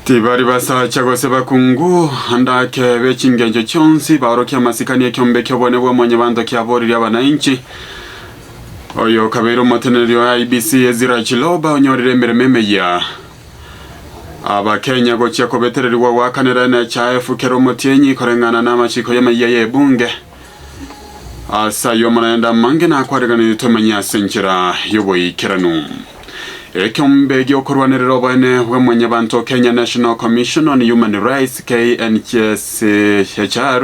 Tibari basacha gose bakungu, andake b'echingencho chionsi, baorokia amasikani ekiombe ki'obonene bwa Mwanyabanto kiaboririe abanainchi. Oyo okabeire omoteneneri o IBC Ezira Chiloba onyorire emeremo emeyia. Abakenya gochia kobetererigwa goakanera enecha efu kera omotienyi koreng'ana na amachiko y'ameyia y'ebunge. Ase ayio amanyaenda amange nakwarekanire tomenye ase enchera y'oboikeranu. Ekeombe gi'okorwanerera oboene bwa mwanyabanto Kenya National Commission on Human Rights KNCHR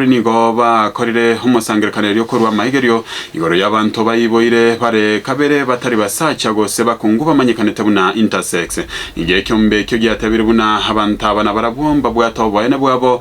nigo bakorire omosangererekaneri okorwa amaigerio igoro y'abanto baiboire bare kabere batari basacha gose bakungu bamanyekanete buna intersex. Nigo ekeombe ekio giatebire buna abanto aba nabarabwo mbabwate oboene bwabo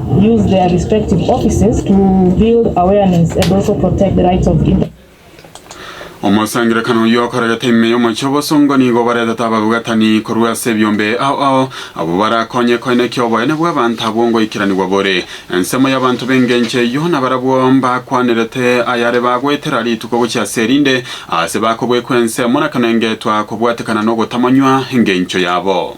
Omosangererekano oyio okorerete ime y'omochie obosongo nigo obaretete ababugatani korwa ase ebiombe ao ao, abwo barakonye koina ki oboyene bw'abanto abwo ngoikeranigwa bore. Ensemo y'abanto b'engencho eyio nabarabwo mbakwanerete ayare bagoetera rituko gochia ase erinde, aase bakobwekwa ensemo na kane ngetwa kobwatekana nogotamanywa engencho yabo.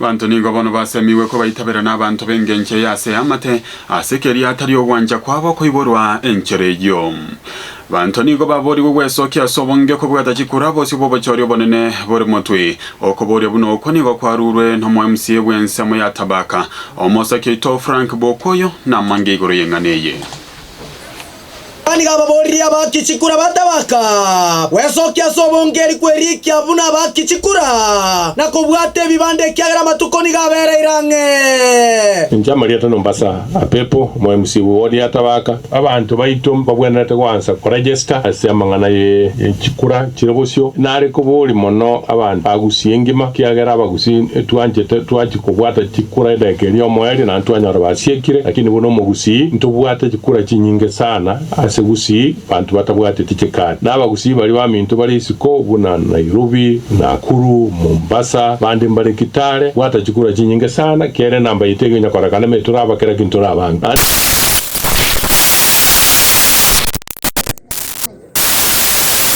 Abanto nigo bono basemigwe kobaitabera n'abanto b'engencho eye ase eamate, ase keria atari ogwancha kwabo koiborwa enchera eyio. Abanto nigo baboorigwe gwesokia ase obonge kobwata chikura bosio bw'obochori obonene bore motwe. Okobooria buna okwo nigo kwarurwe n'omo-MCA bw'ensemo ya Tabaka, Omosake oito Frank Bwokoyo, namange igoro y'eng'ana eye. Yohana nigo ababoorire abakichikura batabaka gwesokia ase obongeri kw'eriikia buna abakichikura, na kobwata ebibanda ekiagera amatuko nigo abereire ang'e. Inche Amarieta Nombasa Apepo, omoemisiwa o riatabaka. Abanto baito mbabwenerete goansa koregesta ase amang'ana ye chikura chire bosio. Nare kobooria mono abanto bagusie engima, ekiagera abagusi. Sin e twanchete twachi kobwata chikura edageka eria omoerio naende twanyora basiekire, lakini buna omogusii ntobwate chikura chinyinge sana ase gusii banto batabwateti chikari. Na abagusii baria baminto bare isiko buna Nairobi, Nakuru, Mombasa, bande mbare Kitale bwata chikura chinyinge sana kere namba yaito egenya korekana me tore abakera ki ntore abange. Naende.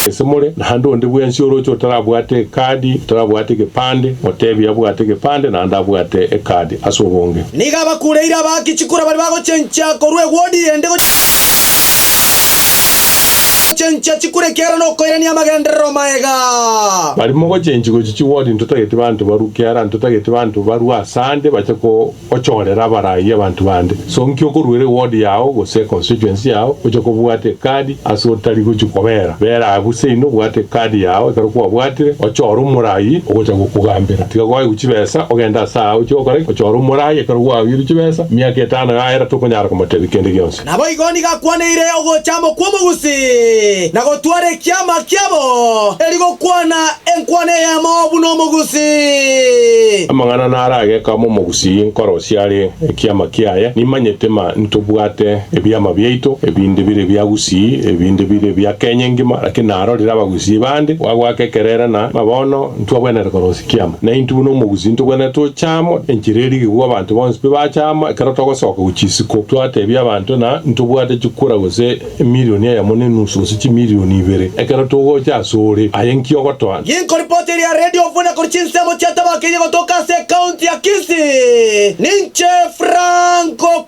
Gose more naende onde bwensi oroche otarabwate ekadi, otarabwate egepande, oteebie abwate egepande naende abwate ekadi ase obonge. Nigo abakureire abaaki chikura baria bagochencha korwa ewodi ende gochencha chikura ekiagera nokoirania amagenderero maega. Baria mogochenchi gochichia ewodi ntotageti banto barue kiara, ntotageti banto barue asande bache Ochoorere abaraaia abanto bande. So nki okoruera ewodi yao gose econstituency yao oche kobwata ekadi ase otari gochia kobeera? Beera abwo seino obwate ekadi yao ekero kwabwatire ochoore omoraaia ogocha gokogambera. Tiga goegwa chibesa ogende ase aa ochie gokora ki? Ochoore omoraaia ekero gwaoirwe chibesa miaka etano yaera tokonyara komotebia kende gionsi. Naboigo nigo akwaneire ogocha amo kw'omogusi, na gotwara ekiama kiabo, erio gokwana enkwana eyemo buna omogusi. Amang'ana narageka amo omogusi nkorosia are ekiama kiaye, nimanyete ma ntobwate ebiama biaito, ebinde bire bia Gusii, ebinde bire bia Kenya engima, lakini narorire abagusi bande bagwaka ekerere na ma bono, Ntwagwenerete korosia kiama, na intwe buna omogusi ntogwenerete gocha amo enchera eye rigiko abanto bonsi pi bacha amo ekero togosoka gochia isiko, twatebia abanto na ntobwate chikura gose emilioni eyemo ne enusu gose chimilioni ibere ekero togocha asore. Aye nki ogotoa? Ng'inko ripoti eria ya Radio Ofuna korwa chinsemo chiatabakeirie gotoka ase ekaunti ya Kisii. Ninche Franco.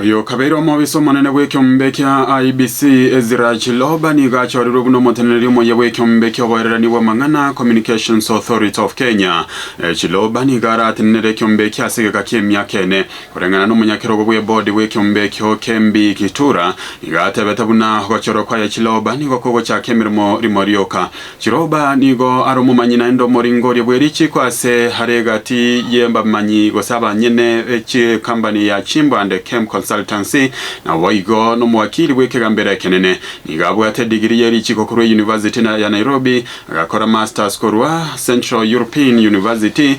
Oyo okabeire omobisa omonene bw'ekeombe ekia IEBC, Ezra Chiloba, nigo achorirwe buna omoteneneri omoyia bw'ekeombe ki'oboererani bw'amang'ana, Communications Authority of Kenya. Chiloba nigo aratenenere ekeombe eki ase egeka ki'emiaka ene. Koreng'ana nomonyakerogo bw'ebodi bw'ekeombe ekio, Kembi Kitura, nigo atebete buna ogochorwa kwaye Chiloba nigo kogochaka emeremo rimo rioka. Chiroba nigo are omomanyi naende omoringoria bwe richiiko ase are egati y'abamanyi gose abanyene be chikambani ya chimbande Kemp Consultancy, na boigo nomowakiri bw'ekegambero ekenene. Nigo abwate digiri ye richiiko korwa eyunivasiti ya Nairobi, agakora Masters korwa Central European University,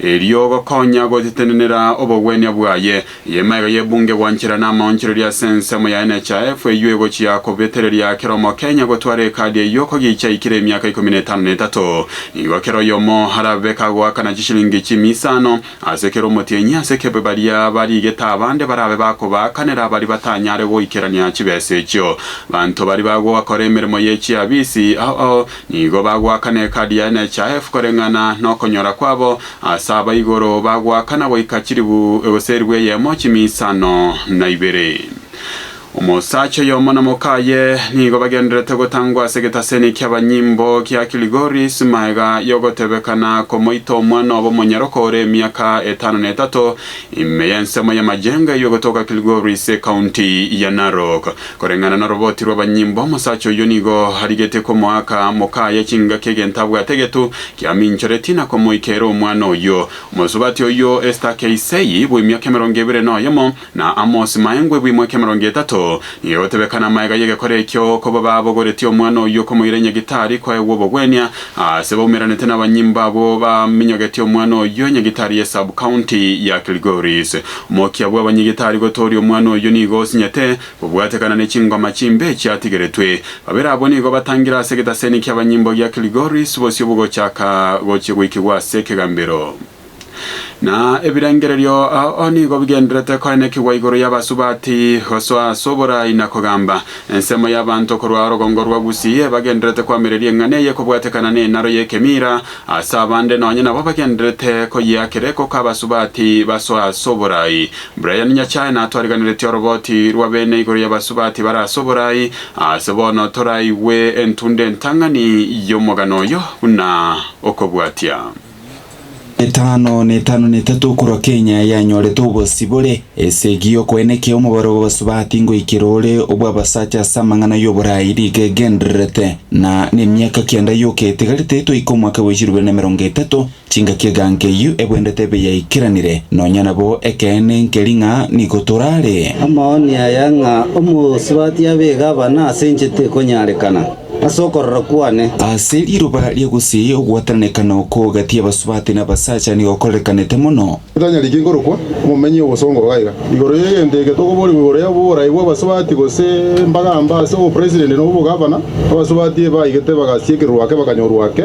erio gokonya gotetenenera obogwenia bwaye. Eye emaiga y'ebunge gwanchera namaonchoreria ase ensemo ya NHIF eyio egochia kobetereria kera omokenya gotwara ekadi eyio kogicha aikire emiaka ikomi na etano na etato. Nigo kera oyomo arabe kagoakana chishilingi chimia isano ase kera omotienyi ase ekebe baria barigete abande barabe bakobaakanera baria batanyare goikerania chibesa echio. Banto baria bagokora emeremo ye chiabisi ao Nigo bagoakana ekadi yaye ne chahefu koreng'ana nokonyora kwabo, ase aba igoro bagoakana goika chilifu, gose elifu eyemo chimi isano na ibere. Omosacha oyomo na mokaye nigo bagendererete gotangwa ase egetaseni kiabanyimbo gia Kilgoris magega yogotebekana komoita omwana obo omonyaroka ore emiaka etano na etato ime y'ensemo ya Majenge eywo egotoka Kilgoris, County ya Narok. Koreng'ana noroboti rw'abanyimbo, omosacha oyio nigo arigetie komoaka mokaaye chingaki egento abwate getu kiaminchoretie na komoika ere omwana oyio. Omosubati oyio Esta Keisei, bw'emiaka emerongo ebere na oyomo, na Amos Maengwe, bw'emwaka emerongo etato, nigo egotebekana amaega y'egekora ekio koba babogoretie omwana oyio komoira enyagitari kwaegwa obogwenia aase baumeranete nabanyimbo abwo baminyogetie omwana oyio enyagitari ye sub-county ya Kilgoris. Omokia bw'abanyige tari gotooria omwana oyio nigo osinyete, bobwatekana ne chingoma chimbe chiatigeretwe. Babere abwo nigo batangire ase egetaseni ki'abanyimbo gia Kilgoris bosio bogochaka gochia goikigwa ase ekegambero. Na ebirengererio ao nigo bigenderete koenekigwa igoro y'abasubati gosoa ase oboraai na kogamba. Ensemo y'abanto korwa orogongo rwa Gusii ebagenderete koamereria eng'ana eye kobwatekana nenaro y'ekemiira, Ase abande nonye nabo bagendererete koyeakera ekoko abasubati basoe ase oboraai. Brian Nyachae natwariganeretie oroboti rwa bene igoro y'abasubati bare ase oboraai, ase bono toraigwe entunda entang'ani y'omogano oyo buna okobwatia. Emiaka amagana etano na etano na etato korwa Kenya yanyorete obosibore. Esegi y'okoenekia y'omobaro bw'Abasubati ngoikera ore obw'abasacha ase amang'ana y'oboraai riga egendererete, na nemiaka kenda y'okoetegerete etoike omwaka bwa chilubera na emerongo etato, chingaki eganka eyio ebwendete ebe yaikeranire, nonya nabo ekeene nkeri ng'a nigo torare. Amaoni aya ng'a Omosubati abe egavana ase inche tekonyarekana, ase okorora kwane. Ase riroba ria gusii ogwatananekana oko gati y'Abasubati na abasacha nigo okorerekanete mono. Titanyari ki korokwa omomenyi obosongo bwaiga igoro y'egento eke tokoborigwa igoro y'oboraai bw'abasubati gose mbagamba ase obopresident na obogavana. Abasubati ebe baigete bagasia ekeruru ake bakanyorwa ake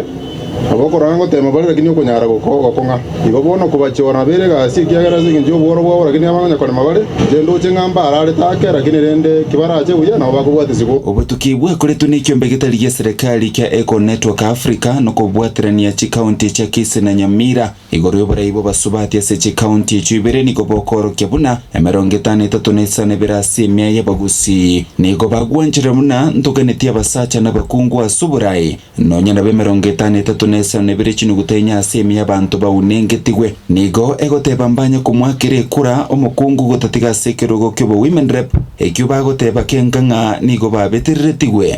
abakorana ngoteema bare lakini okonyara gokogokwa ng'a igo bono okobachora nabeire egasi ekiagera ase engencho y'obworo bwabo lakini abang'anya korema bare chendoche ng'a mbare are take lakini rende kibarache buya nabo bakobwatisibwa. Obotuki bwakoretwe nekiombe getari gia serekari kia Eco Network Africa nokobwaterania chikaunti chia Kisii na Nyamira. Igoro y'oborai bw'abasubati ase chikaunti echio ibere nigo bokoorokia buna emerongo etano etato na isano ebere ase emia y'abagusii. Nigo bagwanchire buna ntoganeti abasacha na abakungu ase oborai, nonya nabo emerongo etano etato na isano nebere chinuguta enye ase emia y'abanto baunengetigwe. Nigo egoteba mbanye komoakera ekura omokungu gotatiga ase ekerogo ki'obo women rep ekio bagoteba kenga ng'a nigo babetereretigwe.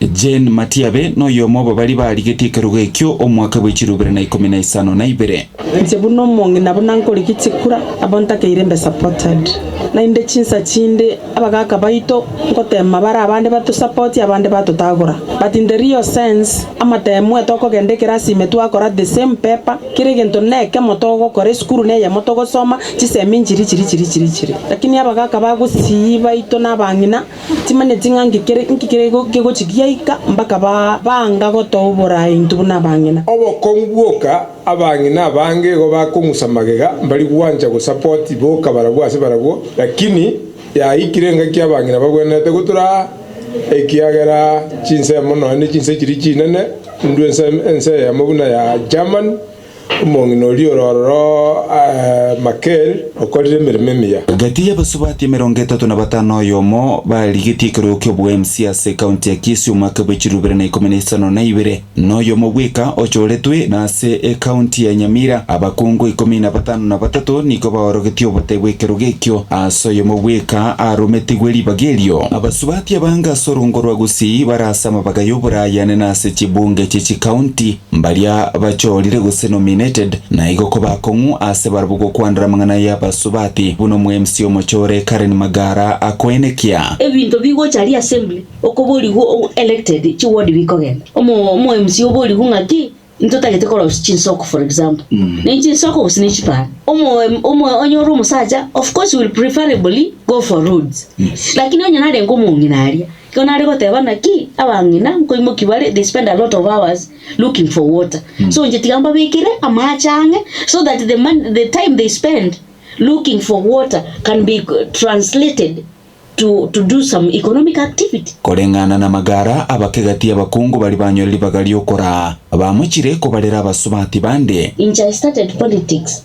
Jane Matiabe noyomo obo baria barigetie ekerogo ekio omwaka bwe chiro ibere na ikomi na isano na ibere. Inche buna omong'ina buna nkorigia chikura abo ntakeire mbe supported. Naende chinsa chinde abagaka baito ngoteema bare abande batosapoti abande batotagora but in the real sense amateemue tokogenda ekerasi ime twakora the same paper kera egento nekemo togokora esukuru neyemo togosoma chisemi nchiri chiri chiri chiri chiri lakini abagaka ba Gusii baito na abang'ina Timanyeti ng'a nki kere nki kere go kegochi giaika mpaka ba baanga gotoa oboraai intwe buna abang'ina. Obokong'u bwoka abang'ina abange igo bakong'usa magega mbari gwancha go support boka barabwo ase barabwo lakini yaikire engaki abang'ina bagwenerete gotura aa ekiagera chinsemo nonya ne chinse chiri chinene ndwe ense ense eyemo buna ya Germany Omong'ina oria ore ororo Makeri okorire emeremo emiya. Gati y'abasubati emerongo etato na batano oyomo barigetie ekerogo ki'obo MC ase ekaunti ya Kisii omwaka bw'echiluu ibere na ikomi na isano na ibere, noyomo bweka ochoretwe, na ase ekaunti ya Nyamira abakungu ikomi na batano na batato nigo baorogetie obotebe bw'ekerogo ekio ase oyomo bweka arometigwe ribaga erio. Abasubati abange ase orungo rwa Gusii bare ase amabaga y'oborayane na ase chibunge chie chikaunti. Mbaria bachoorire gose nominated naigo kobakong'u aase barabwo gokwanera amang'ana y'abasubati, buna omwemsi omochore Karen Magara akoenekia. Ebinto bigocha ria assembly okoborigwa o elected chi ward bikogenda omo omwemsi oborigwe ng'aki ntotagete korosia chinsoko for example ne chinsoko gose ne chipara omo omo onye ore omosacha of course will preferably go for roads lakini onye narenge omong'ina aria Ekero nare goteba naki, abang'ina nkoimokia bare, they spend a lot of hours looking for water. So inche tiga mbabekere amaache ang'e so that the mon- the time they spend looking for water can be co- translated to, to do some economic activity. Koreng'ana namagara abake gati y'abakungu baria banyore ribaga ri'okoraa, bamochire kobarera abasubati bande. Inche I started politics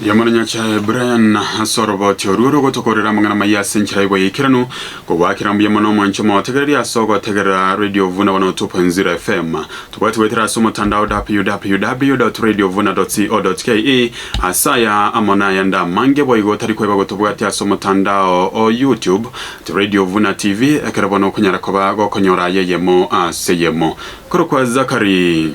Riamana Nyachae Brian ase oroboti orwo rogotokorera amang'ana maya ase enchera y'oboyeikeranu. Kogwakera mbuya mono omonche omotegereria ase ogotegerera Radio Vuna 102.0 FM. Tobwati goetera ase omotandao www.radiovuna.co.ke ase aya amo nayande amange boigo otari koeba gotobwatia ase omotandao o YouTube at Radio Vuna TV ekero bono okonyara koba gokonyora aya eyemo ase eyemo. Korokwa Zachary.